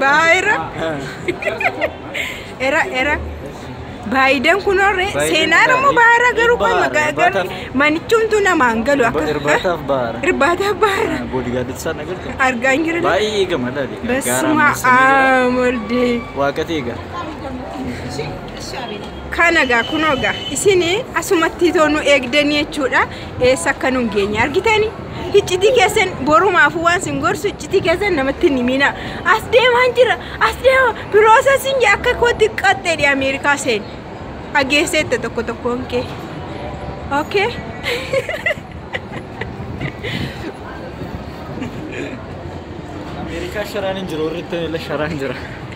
Baayira. Era era. Baayidan kunoorre seenaan ammoo baara garuu kun magaagarri manichumtuu namaan galu akka. Irbaataaf baara. Irbaataaf baara. Boodigaadatti isaan agartu. Argaa hin jirre. Baay'ee eegama laali. Basuma aamolde. Waaqati eega. Kana gaa kunoo gaa isin asumatti too nu eegdanii jechuudha. eessa akka nun geenye argitani hiccitii keessan borumaafuu waan sin gorsu hiccitii keessan namatti hin himina as deemaan jira as deema piroosesingi akka kootti qaxxeedhi ameerikaa seen dhageesseetta tokko tokkoon kee okay Ameerikaa sharaan hin jiru warri ittiin illee sharaan jira.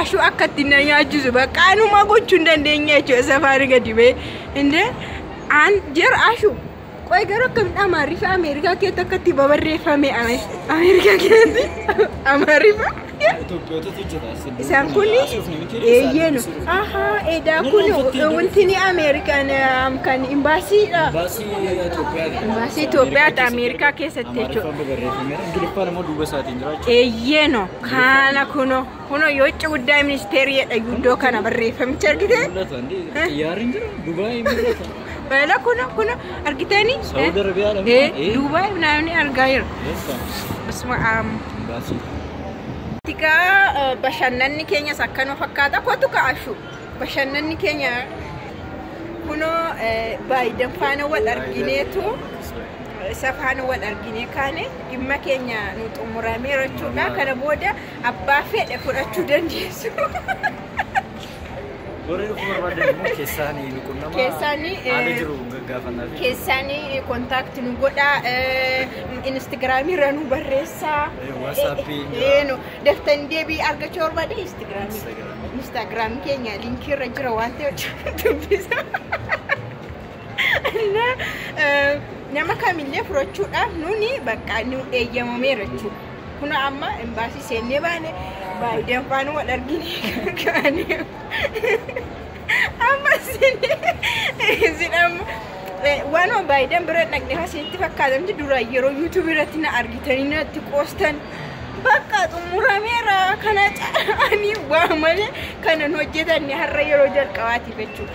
Ashuu akka ittiin na nyaachisu bakka anumaa gochuu hin dandeenye jechuudha safaari gadi ba'ee. Indee aan jer ashuu. Qoy garuu akkamitti amaariffa Ameerikaa keessatti akka itti babarreeffame Ameerikaa keessatti amaariffa. Itoophiyootatu jira. Isaan kun eeyyeenu. Ahaa edaa kun wanti ni Ameerikaan kan imbaasiidha. Baasii Itoophiyaa. Baasii Itoophiyaatti Ameerikaa keessatti jechuudha. Amaariffaan barreeffameera. Ingiliffaan immoo duuba isaatiin. Eeyyeeno kaana kuno kuno yoo itti guddaa ministeerii jedha guddoo kana barreeffamicha argite. Xiyyaarri jira Dubaay mul'ata. Baala kuno kuno argiteeni. Saawud Arabiyaa dha. Eh, Duubaay naannoo argaa jira. Basuma aam. Tikaa bashannanni keenyas akkanuma fakkaata. Kootu ka'ashu bashannanni keenya kunoo baayidan faana wal argineetu isa faana wal arginee kaane. dhimma keenya nu xumurameera jechuudha. Kana booda abbaa fedhe fudhachuu dandeessu. Warri dhufuu barbaadan immoo keessaan nu qunnama. Keessaan, eh, Haala jiru gaggaafannaa fi Keessaan kontaakti nu godha, instagiraamii irra nu barreessa. Eh, WhatsApp Eh, jira. eh, no. Daftan deebii argachuu barbaade instagiraamii. Instagram. Instagiraamii keenya liinkii irra jira waan ta'eef dubbisa. nama kamillee fudhachuudhaaf nuni bakka nu eeyyamameera jechuudha. Kun amma imbaasii seennee baane baay'een faana wal argine kaane. Amma sidhamu waan baay'een bira dhaqne hasitti fakkaatamti dura yeroo yuutuubii irratti na argitanii natti qoostan. Bakka xumurameera kana caalanii waa malee kanan hojjetan har'a yeroo jalqabaatiif jechuudha.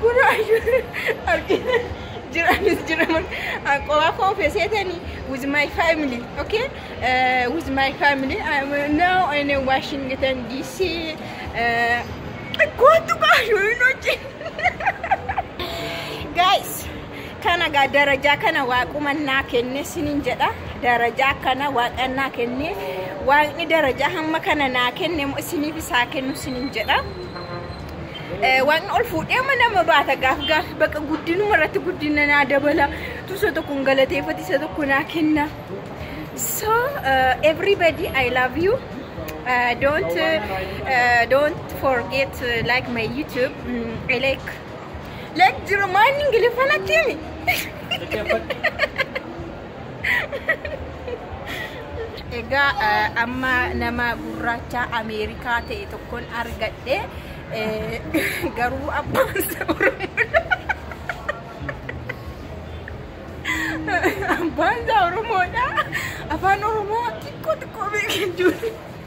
Kun ayyuu argina jiranis jiraman qofa koo feseetani with my family okay uh, with my family I'm now in Washington DC uh, kootu kaayuu hin hojii guys Kana gaa darajaa kana waaquma naa kenne sinin jedha darajaa kana waaqa naa kenne waaqni darajaa hamma kana naa kenne immoo isiniif isaa kennu sinin jedha. Eh, Waaqni ol fuudhee amma nama baata gaaf gaaf bakka guddinuma irratti guddina naa dabala tusa tokko hin galateeffatu isa tokko naa kenna. So uh, everybody I love you. Uh, don't uh, don't forget uh, like my YouTube. Mm, I like Like jira maanni ingiliffaan akkiimi. Egaa eh, amma nama gurraacha Ameerikaa ta'e tokkon argadhe eh, garuu abbaan isaa Oromoodha. Abbaan isaa Oromoodha. Afaan Oromoo xiqqoo xiqqoo beekee jiru.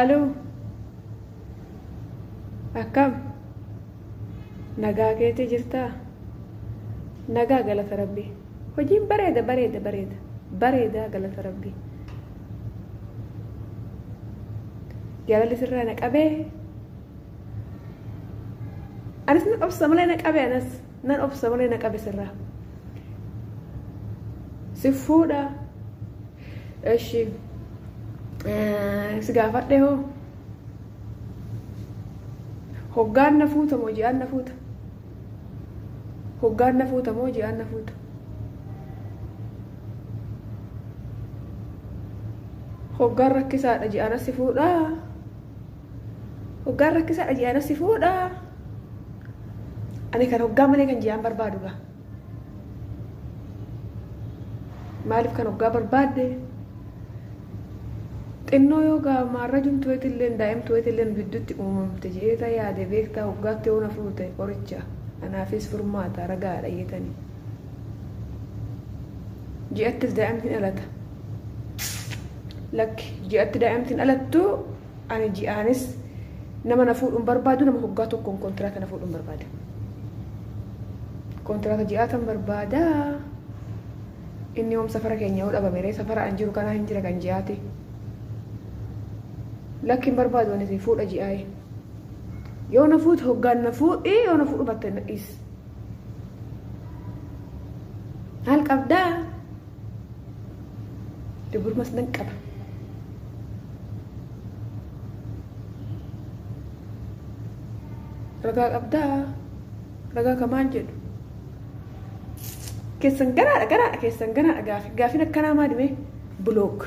Aloo akkam nagaa keetii jirtaa nagaa galata rabbii hojiin bareeda bareeda bareeda bareedaa galata rabbii jaalalli sirraa na qabee anis na obsa malee na qabee anas Nan obsa malee na qabi sirraa. Si fuudha. Eshi. Si gaafadhe hoo. Hoggaan na fuuta moo ji'aan na fuuta? Hoggaan na fuuta moo ji'aan na fuuta? Hoggaan rakkisaadha ji'aan si fuudhaa? Hoggaan rakkisaadha je'anas si fuudha. Ani kan hoggaa malee kan je'aan barbaadu gaa. Maaliif kan hoggaa barbaadde? Xinnoo yoo gaa maarrajuun tuweetilleen daa'im tuweetilleen gidduutti uumamte je'eeta yaade beektaa hoggaatti yoo na fuute qoricha anaafis furmaata ragaadha jeetanii. Ji'attis daa'imti hin alata. Lakki ji'atti daa'imti hin alattu Ani ji'aanis nama na fuudhu hin barbaadu, nama hoggaa tokkoon kontiraata na fuudhu hin barbaada. Kontiraata ji'aatan barbaada. Inni hoom safara keenya yoo dhabame ree safara an jiru kanaa hin jira kan ji'aati. Lakki hin barbaadu anis fuudha ji'aayi. Yoo na fuute hoggaan na fuudhi yoo na fuudhu batte na dhiis. Haal qabdaa? Dogormas nan qaba. Ragaa qabdaa? Ragaa ka maal jedhu? Keessan garaadha garaadha keessan garaadha gaafi. Gaafin akkanaa maali mee? Block.